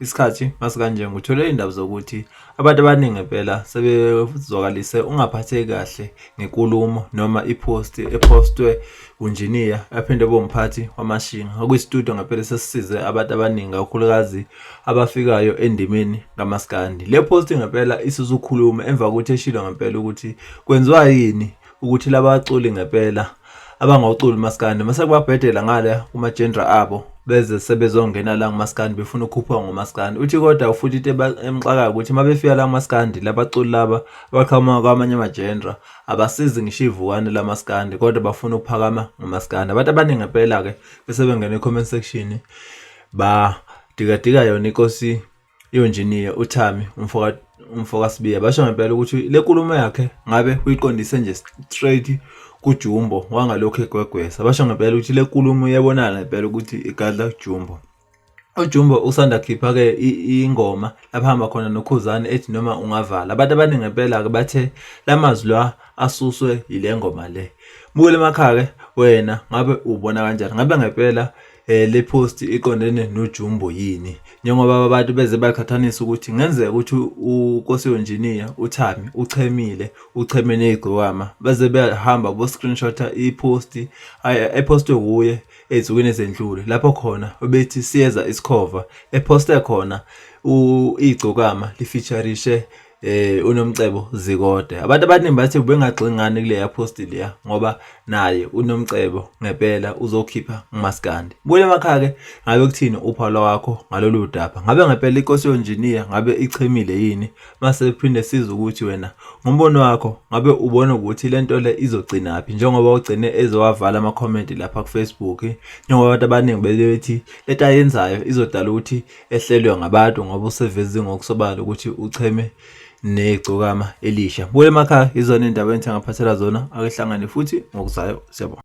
Isikhathi masikanje ngithole indaba zokuthi abantu abaningi ngempela sebezwakalise ungaphatheki kahle ngenkulumo noma iphosti ephostwe unjiniya aphinde abe umphathi wamashinga okuyisitudio ngempela sesisize abantu abaningi kakhulukazi abafikayo endimeni kamaskandi le phosti ngempela isuzukhuluma emva kokuthi eshilo ngempela ukuthi kwenziwa yini ukuthi labaculi ngempela abangawuculi umaskandi mase kubabhedela ngale kuma-genre abo beze sebezongena la ngumaskandi befuna ukukhuphuka ngomaskandi uthi kodwa ufuthi into emxakayo ukuthi uma befika la kumaskandi labaculi laba abaqhamuka kwamanye amajendra abasizi ngisho ivukane lamaskandi kodwa bafuna ukuphakama ngomaskandi abantu abaningi ngempela-ke bese bengena e-comment section badikadika yona inkosi Yonjiniya uThami umfoka umfoka Sibiya basho ngempela ukuthi le nkulumo yakhe ngabe uyiqondise nje straight kuJumbo wangalokho egwegwesa basho ngempela ukuthi le nkulumo iyabonana ngempela ukuthi igadla kuJumbo uJumbo usanda khipha ke ingoma lapha hamba khona noKhuzani ethi noma ungavala abantu abaningi ngempela ke bathe lamazwi la asuswe yile ngoma le buke lemakhaya ke wena ngabe ubona kanjani ngabe ngempela Eh, le post iqondene nojumbo yini njengoba abantu beze baqhathanisa ukuthi ngenzeka ukuthi ukosiyonjiniya uthami uchemile ucheme ney'gqokama beze behamba bo-screenshota i-post epostwe wuye ey'nsukwini ezendlule lapho khona ubethi siyeza isikhova eposte khona iy'gcokama lifeaturishe eh unomcebo zikode abantu abaningi bathi ubengagxili ngani kule yaposti leya ngoba naye unomcebo ngempela uzokhipha umaskandi buye emakhaya ke ngabe kuthini uphawula wakho ngalolu daba ngabe ngempela inkosi yonjiniya ngabe ichemile yini mase kuphinde siza ukuthi wena ngombono wakho ngabe ubona ukuthi le nto le izogcina phi njengoba ugcine ezowavala ama-comment lapha kufacebook njengoba abantu abaningi bebethi leta yenzayo izodala ukuthi ehlelwe ngabantu ngoba usevezi ngokusobala ukuthi ucheme negcokama elisha. Buye emakhaya izona iy'ndaba engithengaphathela zona akehlangane futhi ngokuzayo siyabona.